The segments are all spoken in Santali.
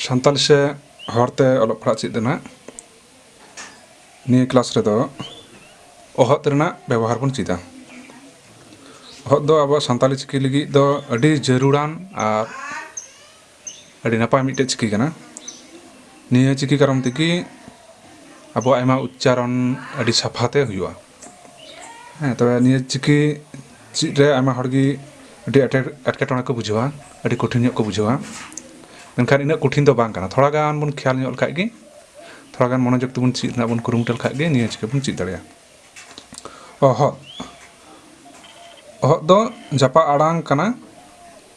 ᱥᱟᱱᱛᱟᱞᱤ ᱥᱮ ᱦᱚᱲᱛᱮ ᱚᱞᱚᱜ ᱯᱟᱲᱦᱟᱜ ᱪᱮᱫ ᱨᱮᱱᱟᱜ ᱱᱤᱭᱟᱹ ᱠᱞᱟᱥ ᱨᱮᱫᱚ ᱚᱦᱚᱫ ᱨᱮᱱᱟᱜ ᱵᱮᱵᱚᱦᱟᱨ ᱵᱚᱱ ᱪᱮᱫᱟ ᱚᱦᱚᱫ ᱫᱚ ᱟᱵᱚ ᱥᱟᱱᱛᱟᱞᱤ ᱪᱤᱠᱤ ᱞᱟᱹᱜᱤᱫ ᱫᱚ ᱟᱹᱰᱤ ᱡᱟᱹᱨᱩᱲᱟᱱ ᱟᱨ ᱟᱹᱰᱤ ᱱᱟᱯᱟᱭ ᱢᱤᱫᱴᱮᱡ ᱪᱤᱠᱤ ᱠᱟᱱᱟ ᱱᱤᱭᱟᱹ ᱪᱤᱠᱤ ᱠᱟᱨᱚᱱ ᱛᱮᱜᱮ ᱟᱵᱚᱣᱟᱜ ᱟᱭᱢᱟ ᱩᱪᱪᱟᱨᱚᱱ ᱟᱹᱰᱤ ᱥᱟᱯᱷᱟᱛᱮ ᱦᱩᱭᱩᱜᱼᱟ ᱦᱮᱸ ᱛᱚᱵᱮ ᱱᱤᱭᱟᱹ ᱪᱤᱠᱤ ᱪᱮᱫ ᱨᱮ ᱟᱭᱢᱟ ᱦᱚᱲ ᱜᱮ ᱟᱹᱰᱤ ᱟᱸᱴᱮ ᱮᱴᱠᱮᱴᱚᱬᱮ ᱠᱚ ᱵᱩᱡᱷᱟᱹᱣᱟ ᱟᱹᱰᱤ ᱠᱚᱴᱷᱤᱱ ᱧᱚᱜ ᱠᱚ ᱵᱩᱡᱷᱟᱹᱣᱟ ᱢᱮᱱᱠᱷᱟᱱ ᱤᱱᱟᱹᱜ ᱠᱚᱴᱷᱤᱱ ᱫᱚ ᱵᱟᱝ ᱠᱟᱱᱟ ᱛᱷᱚᱲᱟ ᱜᱟᱱ ᱵᱚᱱ ᱠᱷᱮᱭᱟᱞ ᱧᱚᱜ ᱞᱮᱠᱷᱟᱡ ᱜᱮ ᱛᱷᱚᱲᱟ ᱜᱟᱱ ᱢᱚᱱᱚᱡᱳᱜᱽ ᱛᱮᱵᱚᱱ ᱪᱮᱫ ᱨᱮᱱᱟᱜ ᱵᱚᱱ ᱠᱩᱨᱩᱢᱩᱴᱩ ᱞᱮᱠᱷᱟᱡ ᱜᱮ ᱱᱤᱭᱟᱹ ᱪᱤᱠᱤ ᱵᱚᱱ ᱪᱮᱫ ᱫᱟᱲᱮᱭᱟᱜᱼᱟ ᱚᱦᱚᱫ ᱚᱦᱚᱫ ᱫᱚ ᱡᱟᱯᱟᱜ ᱟᱲᱟᱝ ᱠᱟᱱᱟ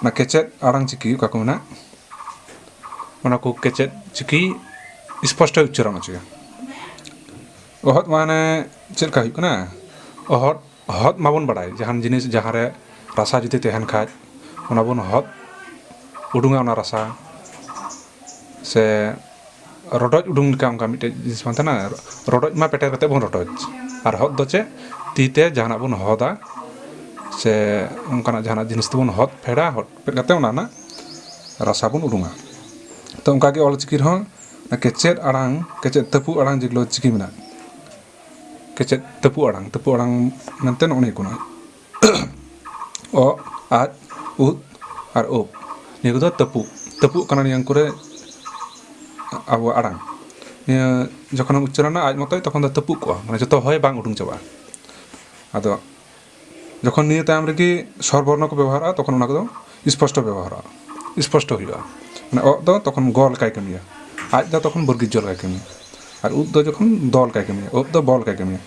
ᱚᱱᱟ ᱠᱮᱪᱮᱫ ᱟᱲᱟᱝ ᱪᱤᱠᱤ ᱚᱠᱟ ᱠᱚ ᱢᱮᱱᱟᱜ ᱚᱱᱟ ᱠᱚ ᱠᱮᱪᱮᱫ ᱪᱤᱠᱤ ᱥᱯᱚᱥᱴᱚᱭ ᱩᱪᱪᱟᱨᱚᱱ ᱦᱚᱪᱚᱭᱟ ᱚᱦᱚᱫ ᱢᱟᱱᱮ ᱪᱮᱫ ᱞᱮᱠᱟ ᱦᱩᱭᱩᱜ ᱠᱟᱱᱟ ᱚᱦᱚᱫ ᱚᱦᱚᱫ ᱢᱟᱵᱚᱱ ᱵᱟᱲᱟᱭ ᱡᱟᱦᱟᱱ ᱡᱤᱱᱤᱥ ᱡᱟᱦᱟᱸ ᱨᱮ ᱨᱟᱥᱟ ᱡᱩᱫᱤ ᱛᱟᱦᱮᱱ ᱠᱷᱟᱱ ᱚᱱᱟ ᱵᱚᱱ ᱚᱦᱚᱫ ᱩᱰᱩᱝᱟ ᱚᱱᱟ ᱨᱟᱥᱟ ᱥᱮ ᱨᱚᱰᱚᱡ ᱩᱰᱩᱝ ᱞᱮᱠᱟ ᱚᱱᱠᱟ ᱢᱤᱫᱴᱮᱡ ᱡᱤᱱᱤᱥ ᱵᱟᱝ ᱛᱟᱦᱮᱱᱟ ᱨᱚᱰᱚᱡ ᱢᱟ ᱯᱮᱴᱮᱨ ᱠᱟᱛᱮ ᱵᱚᱱ ᱨᱚᱰᱚᱡ ᱟᱨ ᱦᱚᱫ ᱫᱚ ᱪᱮᱫ ᱛᱤ ᱛᱮ ᱡᱟᱦᱟᱱᱟᱜ ᱵᱚᱱ ᱦᱚᱫᱟ ᱥᱮ ᱚᱱᱠᱟᱱᱟᱜ ᱡᱟᱦᱟᱱᱟᱜ ᱡᱤᱱᱤᱥ ᱛᱮᱵᱚᱱ ᱦᱚᱫ ᱯᱷᱮᱰᱟ ᱦᱚᱫ ᱯᱷᱮᱰ ᱠᱟᱛᱮ ᱚᱱᱟ ᱨᱮᱱᱟᱜ ᱨᱟᱥᱟ ᱵᱚᱱ ᱩᱰᱩᱝᱟ ᱛᱚ ᱚᱱᱠᱟ ᱜᱮ ᱚᱞ ᱪᱤᱠᱤ ᱨᱮᱦᱚᱸ ᱠᱮᱪᱮᱫ ᱟᱲᱟᱝ ᱠᱮᱪᱮᱫ ᱛᱟᱹᱯᱩ ᱟᱲᱟᱝ ᱡᱮᱜᱩᱞᱳ ᱪᱤᱠᱤ ᱢᱮᱱᱟᱜᱼᱟ ᱠᱮᱪᱮᱫ ᱛᱟᱹᱯᱩ ᱟᱲᱟᱝ ᱛᱟᱹᱯᱩ ᱟᱲᱟᱝ ᱢᱮᱱᱛᱮ ᱱᱚᱜᱼᱚ ᱱᱤᱭᱟᱹ ᱠᱚ ᱢᱮᱱᱟᱜᱼᱟ ᱚ ᱟᱡ ᱩᱫ ᱟᱨ ᱩᱵ ᱱᱤᱭᱟᱹ ᱠᱚᱫᱚ ᱛᱟᱹᱯᱩᱜ ᱛᱟᱹᱯᱩᱜ ᱠᱟᱱᱟ ᱱᱤᱭᱟᱹ ᱠᱚᱨᱮ ᱟᱵᱚᱣᱟᱜ ᱟᱲᱟᱝ ᱱᱤᱭᱟᱹ ᱡᱚᱠᱷᱚᱱᱮᱢ ᱩᱪᱪᱟᱨᱚᱱᱟ ᱟᱡ ᱢᱚᱛᱚᱡ ᱛᱚᱠᱷᱚᱱ ᱫᱚ ᱛᱟᱹᱯᱩᱜ ᱠᱚᱜᱼᱟ ᱢᱟᱱᱮ ᱡᱚᱛᱚ ᱦᱚᱭ ᱵᱟᱝ ᱩᱰᱩᱝ ᱪᱟᱵᱟᱜᱼᱟ ᱟᱫᱚ ᱡᱚᱠᱷᱚᱱ ᱱᱤᱭᱟᱹ ᱛᱟᱭᱚᱢ ᱨᱮᱜᱮ ᱥᱚᱨ ᱵᱚᱨᱱᱚ ᱠᱚ ᱵᱮᱵᱚᱦᱟᱨᱚᱜᱼᱟ ᱛᱚᱠᱷᱚᱱ ᱚᱱᱟ ᱠᱚᱫᱚ ᱥᱯᱚᱥᱴᱚ ᱵᱮᱵᱚᱦᱟᱨᱚᱜᱼᱟ ᱥᱯᱚᱥᱴᱚ ᱦᱩᱭᱩᱜᱼᱟ ᱢᱟᱱᱮ ᱚᱜ ᱫᱚ ᱛᱚᱠᱷᱚᱱ ᱜᱚ ᱞᱮᱠᱟᱭ ᱠᱟᱹᱢᱤᱭᱟ ᱟᱡ ᱫᱚ ᱛᱚᱠᱷᱚᱱ ᱵᱚᱨᱜᱤᱡᱡᱚ ᱞᱮᱠᱟᱭ ᱠᱟᱹᱢᱤᱭᱟ ᱟᱨ ᱩᱫ ᱫᱚ ᱡᱚᱠᱷᱚᱱ ᱫᱚ ᱞᱮᱠᱟᱭ ᱠᱟᱹᱢᱤᱭᱟ ᱩᱵ ᱫᱚ ᱵᱚ ᱞᱮᱠᱟᱭ ᱠᱟᱹᱢᱤᱭᱟ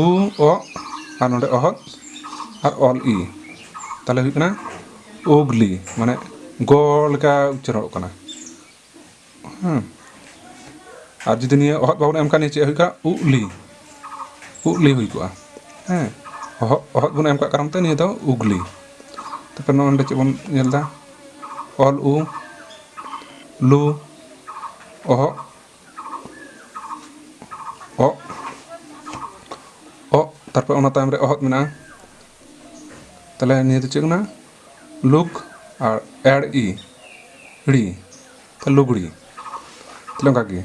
ᱩ ᱚ ᱟᱨ ᱱᱚᱰᱮ ᱚᱦᱚᱫ ᱟᱨ ᱚᱞ ᱤ ᱛᱟᱦᱞᱮ ᱦᱩᱭᱩᱜ ᱠᱟᱱᱟ ᱩᱜᱽᱞᱤ ᱢᱟᱱᱮ ᱜᱚ ᱞᱮᱠᱟ ᱩᱪᱪᱟᱨᱚᱜ ᱠᱟᱱᱟ ᱦᱮᱸ ᱟᱨ ᱡᱩᱫᱤ ᱱᱤᱭᱟᱹ ᱚᱦᱚᱫ ᱵᱟᱵᱚᱱ ᱮᱢ ᱠᱷᱟᱱ ᱱᱤᱭᱟᱹ ᱪᱮᱫ ᱦᱩᱭᱩᱜᱼᱟ ᱩᱜᱽᱞᱤ ᱩᱜᱽᱞᱤ ᱦᱩᱭ ᱠᱚᱜᱼᱟ ᱦᱮᱸ ᱚᱦᱚᱫ ᱚᱦᱚᱫ ᱵᱚᱱ ᱮᱢ ᱠᱟᱜ ᱠᱟᱨᱚᱱ ᱛᱮ ᱱᱤᱭᱟᱹ ᱫᱚ ᱩᱜᱽᱞᱤ ᱛᱟᱨᱯᱚᱨ ᱱᱚᱰᱮ ᱪᱮᱫ ᱵᱚᱱ ᱧᱮᱞᱫᱟ ᱚᱞ ᱩ ᱞᱩ ᱚᱦᱚᱜ ᱚᱜ ᱚᱜ ᱛᱟᱨᱯᱚᱨ ᱚᱱᱟ ᱛᱟᱭᱚᱢ ᱨᱮ ᱚᱦᱚᱫ ᱢᱮᱱᱟᱜᱼᱟ ᱛᱟᱦᱚᱞᱮ ᱱᱤᱭᱟᱹ ᱫᱚ ᱪᱮᱫ ᱠᱟᱱᱟ ᱞᱩᱠ ᱟᱨ ᱮᱲ ᱤ ᱦᱤᱲᱤ ᱛᱟᱦᱚᱞᱮ ᱞᱩᱜᱽᱲᱤ ᱛᱟᱦᱚᱞᱮ ᱚᱱᱠᱟ ᱜᱮ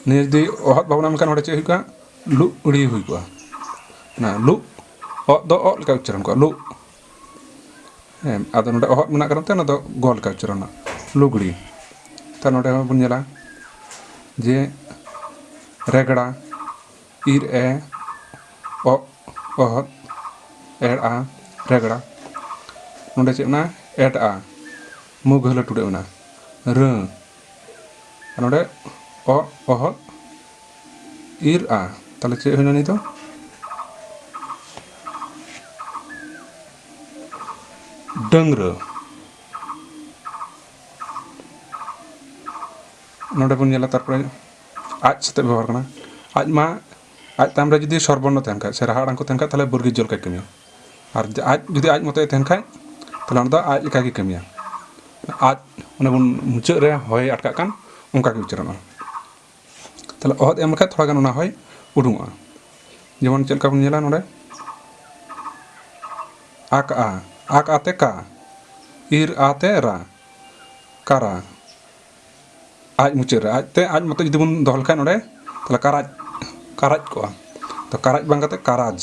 ᱱᱤᱭᱟᱹ ᱡᱩᱫᱤ ᱚᱦᱚᱫ ᱵᱟᱵᱚᱱ ᱮᱢ ᱠᱷᱟᱱ ᱚᱸᱰᱮ ᱪᱮᱫ ᱦᱩᱭ ᱠᱚᱜᱼᱟ ᱞᱩᱜᱽᱲᱤ ᱦᱩᱭ ᱠᱚᱜᱼᱟ ᱚᱱᱟ ᱞᱩᱜᱽ ᱚᱜ ᱫᱚ ᱚᱜ ᱞᱮᱠᱟ ᱩᱪᱪᱟᱨᱚᱱ ᱠᱚᱜᱼᱟ ᱞᱩᱜᱽ ᱦᱮᱸ ᱟᱫᱚ ᱱᱚᱰᱮ ᱚᱦᱚᱫ ᱢᱮᱱᱟᱜ ᱠᱟᱨᱚᱱ ᱛᱮ ᱚᱱᱟ ᱫᱚ ᱜᱚᱞ ᱠᱟᱜ ᱩᱪᱟᱨᱚᱱ ᱨᱮᱱᱟᱜ ᱞᱩᱜᱽᱲᱤ ᱛᱟ ᱱᱚᱰᱮ ᱦᱚᱸ ᱵᱚᱱ ᱧᱮᱞᱟ ᱡᱮ ᱨᱮᱜᱽᱲᱟ ᱤᱨ ᱮ ᱚ ᱚᱦᱚᱫ ᱮᱲ ᱟ ᱨᱮᱜᱽᱲᱟ ᱱᱚᱰᱮ ᱪᱮᱫ ᱢᱮᱱᱟᱜᱼᱟ ᱮᱰ ᱟ ᱢᱩ ᱜᱷᱟᱹᱞᱟᱹ ᱴᱩᱰᱟᱹᱜ ᱢᱮᱱᱟᱜᱼᱟ ᱨᱟᱹ ᱱᱚᱰᱮ ᱚ ᱚᱦᱚᱫ ᱤᱨ ᱟ ᱛᱟᱦᱚᱞᱮ ᱪᱮᱫ ᱦᱩᱭᱱᱟ ᱱᱤᱛᱚᱜ ᱰᱟᱹᱝᱨᱟᱹ ᱱᱚᱰᱮ ᱵᱚᱱ ᱧᱮᱞᱟ ᱛᱟᱨᱯᱚᱨᱮ ᱟᱡ ᱥᱟᱛᱮ ᱵᱮᱵᱚᱦᱟᱨ ᱠᱟᱱᱟ ᱟᱡ ᱢᱟ ᱟᱡ ᱛᱟᱭᱚᱢ ᱨᱮ ᱡᱩᱫᱤ ᱥᱚᱨᱵᱚᱨᱱᱚ ᱛᱟᱦᱮᱱ ᱠᱷᱟᱡ ᱥᱮ ᱨᱟᱦᱟ ᱟᱲᱟᱝ ᱠᱚ ᱛᱟᱦᱮᱱ ᱠᱷᱟᱡ ᱛᱟᱦᱚᱞᱮ ᱵᱩᱨᱜᱤ ᱡᱚᱞ ᱠᱟᱡ ᱠᱟᱹᱢᱤᱭᱟ ᱟᱨ ᱟᱡ ᱡᱩᱫᱤ ᱟᱡ ᱢᱚᱛᱚᱭ ᱛᱟᱦᱮᱱ ᱠᱷᱟᱡ ᱛᱟᱦᱚᱞᱮ ᱚᱱᱟ ᱫᱚ ᱟᱡ ᱞᱮᱠᱟ ᱜᱮ ᱠᱟᱹᱢᱤᱭᱟ ᱟᱡ ᱚᱱᱮ ᱵᱚᱱ ᱢᱩᱪᱟᱹᱫ ᱨᱮ ᱦᱚᱭ ᱟᱴᱠᱟᱜ ᱠᱟᱱ ᱚᱱᱠᱟ ᱜᱮ ᱩᱪᱟᱨᱚᱱᱚᱜᱼᱟ ᱛᱟᱦᱚᱞᱮ ᱚᱦᱚᱫ ᱮᱢ ᱞᱮᱠᱷᱟᱡ ᱛᱷᱚᱲᱟ ᱜᱟᱱ ᱚᱱᱟ ᱦᱚᱭ ᱩᱰᱩᱝᱚᱜᱼᱟ ᱡᱮᱢᱚᱱ ᱪᱮᱫ ᱞᱮᱠᱟ ᱵᱚᱱ ᱧᱮᱞᱟ ᱱᱚᱰᱮ ᱟᱠ ᱟ ᱟᱠ ᱟᱛᱮ ᱠᱟ ᱤᱨ ᱟᱛᱮ ᱨᱟ ᱠᱟᱨᱟ ᱟᱡ ᱢᱩᱪᱟᱹᱫ ᱨᱮ ᱟᱡᱛᱮ ᱟᱡ ᱢᱚᱛᱚ ᱡᱩᱫᱤ ᱵᱚᱱ ᱫᱚᱦᱚ ᱞᱮᱠᱷᱟᱱ ᱱᱚᱰᱮ ᱛᱟᱦᱚᱞᱮ ᱠᱟᱨᱟᱡᱽ ᱠᱟᱨᱟᱡᱽ ᱠᱚᱜᱼᱟ ᱛᱚ ᱠᱟᱨᱟᱡᱽ ᱵᱟᱝ ᱠᱟᱛᱮ ᱠᱟᱨᱟᱡᱽ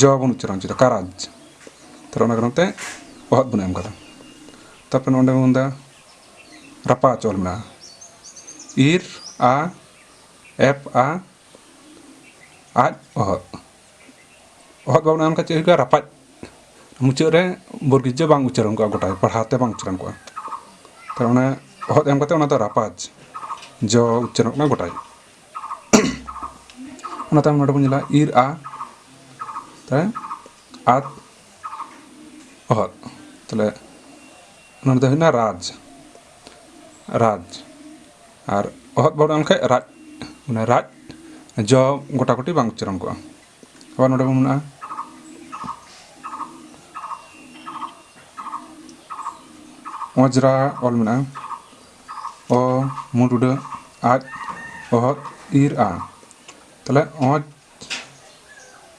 ᱡᱚ ᱵᱚᱱ ᱩᱪᱪᱟᱨᱚᱱ ᱦᱚᱪᱚᱭᱮᱫᱟ ᱠᱟᱨᱟᱡᱽ ᱛᱟᱦᱚᱞᱮ ᱚᱱᱟ ᱠᱟᱨᱚᱱ ᱛᱮ ᱚᱦᱚᱫ ᱵᱚᱱ ᱮᱢ ᱠᱟᱫᱟ ᱛᱟᱨᱯᱚᱨᱮ ᱱᱚᱰᱮ ᱵᱚᱱ ᱢᱮᱱᱫᱟ ᱨᱟᱯᱟ ᱪᱚᱞ ᱢᱮᱱᱟᱜᱼᱟ ᱤᱨ ᱟ ᱮᱯ ᱟ ᱟᱡ ᱚᱦᱚᱫ ᱚᱦᱚᱫ ᱵᱟᱵᱚᱱ ᱮᱢ ᱠᱷᱟᱱ ᱪᱮᱫ ᱦᱩᱭᱩᱜᱼᱟ ᱨᱟᱯᱟᱡ ᱢᱩᱪᱟᱹᱫ ᱨᱮ ᱵᱚᱨᱜᱤᱡᱽᱡᱚ ᱵᱟᱝ ᱩᱪᱟᱹᱨᱚᱱ ᱠᱚᱜᱼᱟ ᱜᱚᱴᱟ ᱯᱟᱲᱦᱟᱣ ᱛᱮ ᱵᱟᱝ ᱩᱪᱟᱹᱨᱚᱱ ᱠᱚᱜᱼᱟ ᱛᱟᱦᱞᱮ ᱚᱱᱟ ᱚᱦᱚᱫ ᱮᱢ ᱠᱟᱛᱮ ᱚᱱᱟ ᱫᱚ ᱨᱟᱯᱟᱡᱽ ᱡᱚ ᱩᱪᱟᱹᱨᱚᱱᱚᱜ ᱠᱟᱱᱟ ᱜᱚᱴᱟᱭ ᱚᱱᱟ ᱛᱟᱭᱚᱢ ᱱᱚᱰᱮ ᱵᱚᱱ ᱧᱮᱞᱟ ᱤᱨ ᱟ ᱛᱟᱦᱞᱮ ᱟᱛ ᱚᱦᱚᱫ ᱛᱟᱦᱞᱮ ᱱᱚᱰᱮ ᱫᱚ ᱦᱩᱭᱱᱟ ᱨᱟᱡᱽ ᱨᱟᱡᱽ ᱟᱨ ᱚᱦᱚᱫ ᱵᱟᱹᱦᱩ ᱮᱢ ᱞᱮᱠᱷᱟᱡ ᱨᱟᱡᱽ ᱢᱟᱱᱮ ᱨᱟᱡᱽ ᱡᱚ ᱜᱚᱴᱟ ᱜᱩᱴᱤ ᱵᱟᱝ ᱩᱪᱪᱟᱨᱚᱱ ᱠᱚᱜᱼᱟ ᱟᱵᱟᱨ ᱱᱚᱰᱮ ᱵᱚᱱ ᱢᱮᱱᱟᱜᱼᱟ ᱚᱡᱽᱨᱟ ᱚᱞ ᱢᱮᱱᱟᱜᱼᱟ ᱚ ᱢᱩᱸᱰ ᱩᱰᱟᱹ ᱟᱡ ᱚᱦᱚᱫ ᱤᱨ ᱟ ᱛᱟᱦᱞᱮ ᱚᱡᱽ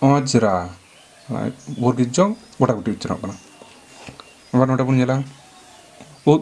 ᱚᱡᱽᱨᱟ ᱵᱚᱨᱜᱤᱡ ᱡᱚ ᱜᱚᱴᱟ ᱜᱩᱴᱤ ᱩᱪᱪᱟᱨᱚᱱᱚᱜ ᱠᱟᱱᱟ ᱟᱵᱟᱨ ᱱᱚᱰᱮ ᱵᱚᱱ ᱧᱮᱞᱟ ᱩᱫ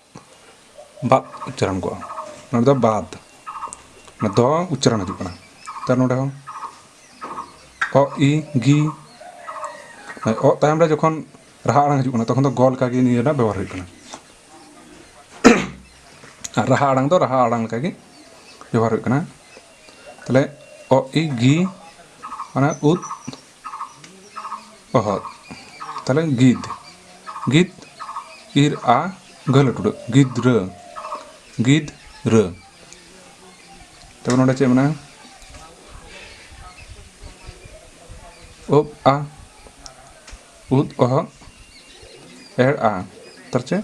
ᱵᱟᱫ ᱩᱪᱪᱟᱨᱚᱱ ᱠᱚᱜᱼᱟ ᱱᱚᱰᱮ ᱫᱚ ᱵᱟᱫ ᱫᱚ ᱩᱪᱪᱟᱨᱚᱱ ᱦᱤᱡᱩᱜ ᱠᱟᱱᱟ ᱛᱟᱨ ᱱᱚᱰᱮ ᱦᱚᱸ ᱚ ᱤ ᱜᱤ ᱚ ᱛᱟᱭᱚᱢ ᱨᱮ ᱡᱚᱠᱷᱚᱱ ᱨᱟᱦᱟ ᱟᱲᱟᱝ ᱦᱤᱡᱩᱜ ᱠᱟᱱᱟ ᱛᱚᱠᱷᱚᱱ ᱫᱚ ᱜᱚ ᱞᱮᱠᱟᱜᱮ ᱱᱤᱭᱟᱹ ᱨᱮᱱᱟᱜ ᱵᱮᱵᱚᱦᱟᱨ ᱦᱩᱭᱩᱜ ᱠᱟᱱᱟ ᱟᱨ ᱨᱟᱦᱟ ᱟᱲᱟᱝ ᱫᱚ ᱨᱟᱦᱟ ᱟᱲᱟᱝ ᱞᱮᱠᱟᱜᱮ ᱵᱮᱵᱚᱦᱟᱨ ᱦᱩᱭᱩᱜ ᱠᱟᱱᱟ ᱛᱟᱦᱞᱮ ᱚ ᱤ ᱜᱤ ᱚᱱᱟ ᱩᱫ ᱚᱦᱚᱫ ᱛᱟᱦᱞᱮ ᱜᱤᱫ ᱜᱤᱫ ᱤᱨ ᱟ ᱜᱷᱟᱹᱞ ᱴᱩᱰᱟᱹᱜ ᱜᱤᱫᱽᱨᱟᱹ ᱜᱤᱫᱽ ᱨᱟᱹ ᱛᱚᱵᱮ ᱱᱚᱰᱮ ᱪᱮᱫ ᱢᱮᱱᱟᱜᱼᱟ ᱩᱵ ᱟ ᱩᱫ ᱚᱦᱚᱜ ᱮᱲ ᱟ ᱛᱟᱨ ᱪᱮᱫ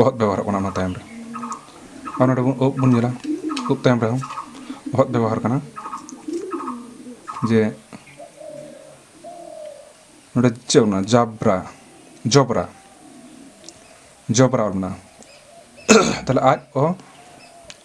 ᱚᱦᱚᱫ ᱵᱮᱵᱚᱦᱟᱨᱚᱜ ᱠᱟᱱᱟ ᱚᱱᱟ ᱛᱟᱭᱚᱢ ᱨᱮ ᱟᱨ ᱱᱚᱰᱮ ᱵᱚᱱ ᱩᱵ ᱵᱚᱱ ᱧᱮᱞᱟ ᱩᱵ ᱛᱟᱭᱚᱢ ᱨᱮᱦᱚᱸ ᱚᱦᱚᱫ ᱵᱮᱵᱚᱦᱟᱨ ᱠᱟᱱᱟ ᱡᱮ ᱱᱚᱰᱮ ᱪᱮᱫ ᱚᱱᱟ ᱡᱟᱵᱽᱨᱟ ᱡᱚᱵᱽᱨᱟ ᱡᱚᱵᱽᱨᱟ ᱚᱞ ᱢᱮᱱᱟᱜᱼᱟ ᱛᱟᱦᱞᱮ ᱟᱡ ᱚ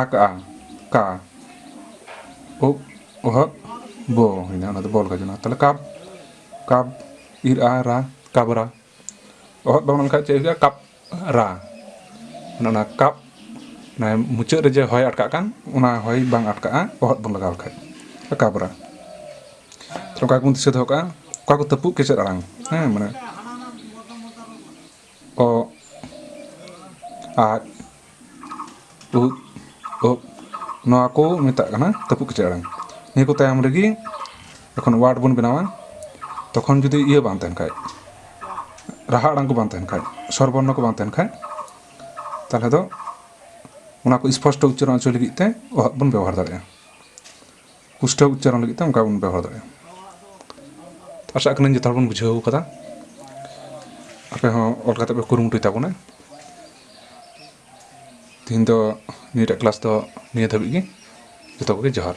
ᱟᱠ ᱟ ᱠᱟ ᱩᱵ ᱚᱦᱚᱵ ᱵᱚ ᱦᱩᱭᱱᱟ ᱚᱱᱟ ᱫᱚ ᱵᱚᱞ ᱜᱟᱡᱚᱱᱟ ᱛᱟᱦᱚᱞᱮ ᱠᱟᱵ ᱠᱟᱵ ᱤᱨ ᱟ ᱨᱟ ᱠᱟᱵᱨᱟ ᱚᱦᱚᱵ ᱵᱟᱝ ᱞᱮᱠᱷᱟᱡ ᱪᱮᱫ ᱦᱩᱭᱩᱜᱼᱟ ᱠᱟᱯ ᱨᱟ ᱚᱱᱟ ᱠᱟᱯ ᱚᱱᱟ ᱢᱩᱪᱟᱹᱫ ᱨᱮ ᱡᱮ ᱦᱚᱭ ᱟᱴᱠᱟᱜ ᱠᱟᱱ ᱚᱱᱟ ᱦᱚᱭ ᱵᱟᱝ ᱟᱴᱠᱟᱜᱼᱟ ᱚᱦᱚᱵ ᱵᱚᱱ ᱞᱟᱜᱟᱣ ᱞᱮᱠᱷᱟᱡ ᱠᱟᱵᱨᱟ ᱚᱠᱟ ᱠᱚᱵᱚᱱ ᱫᱤᱥᱟᱹ ᱫᱚᱦᱚ ᱠᱟᱜᱼᱟ ᱚᱠᱟ ᱠᱚ ᱛᱟᱹᱯᱩᱜ ᱠᱮᱪᱮᱫ ᱟᱲᱟᱝ ᱦᱮᱸ ᱢᱟᱱᱮ ᱚᱜ ᱟᱡ ᱩᱫ ᱚᱜ ᱱᱚᱣᱟ ᱠᱚ ᱢᱮᱛᱟᱜ ᱠᱟᱱᱟ ᱛᱟᱹᱯᱩᱜ ᱠᱮᱪᱮᱫ ᱟᱲᱟᱝ ᱱᱤᱭᱟᱹ ᱠᱚ ᱛᱟᱭᱚᱢ ᱨᱮᱜᱮ ᱡᱚᱠᱷᱚᱱ ᱳᱣᱟᱨᱰ ᱵᱚᱱ ᱵᱮᱱᱟᱣᱟ ᱛᱚᱠᱷᱚᱱ ᱡᱩᱫᱤ ᱤᱭᱟᱹ ᱵᱟᱝ ᱛᱟᱦᱮᱱ ᱠᱷᱟᱡ ᱨᱟᱦᱟ ᱟᱲᱟᱝ ᱠᱚ ᱵᱟᱝ ᱛᱟᱦᱮᱱ ᱠᱷᱟᱡ ᱥᱚᱨ ᱵᱚᱨᱱᱚ ᱠᱚ ᱵᱟᱝ ᱛᱟᱦᱮᱱ ᱠᱷᱟᱡ ᱛᱟᱦᱚᱞᱮ ᱫᱚ ᱚᱱᱟ ᱠᱚ ᱥᱯᱚᱥᱴᱚ ᱩᱪᱪᱟᱨᱚᱱ ᱦᱚᱪᱚᱭ ᱞᱟᱹᱜᱤᱫ ᱛᱮ ᱚᱦᱚᱫ ᱵᱚᱱ ᱵᱮᱵᱚᱦᱟᱨ ᱫᱟᱲᱮᱭᱟᱜᱼᱟ ᱯᱩᱥᱴᱟᱹᱣ ᱩᱪᱪᱟᱨᱚᱱ ᱞᱟᱹᱜᱤᱫ ᱛᱮ ᱚᱱᱠᱟ ᱵᱚᱱ ᱵᱮᱵᱚᱦᱟᱨ ᱫᱟᱲᱮᱭᱟᱜᱼᱟ ᱟᱥᱟᱜ ᱠᱟᱹᱱᱟᱹᱧ ᱡᱚᱛᱚ ᱦᱚᱲ ᱵᱚᱱ ᱵᱩᱡᱷᱟᱹᱣ ᱠᱟᱫᱟ ᱟᱯᱮ ᱦᱚᱸ ᱚᱞ ᱠᱟᱛᱮ ᱯᱮ ᱠᱩᱨᱩᱢᱩᱴᱩᱭ ᱛᱟᱵᱚᱱᱟ ᱛᱤᱦᱤᱧ ᱫᱚ ᱱᱤᱭᱟᱹᱴᱟᱜ ᱠᱞᱟᱥ ᱫᱚ ᱱᱤᱭᱟᱹ ᱫᱷᱟᱹᱵᱤᱡ ᱜᱮ ᱡᱚᱛᱚ ᱠᱚᱜᱮ ᱡᱚᱦᱟᱨ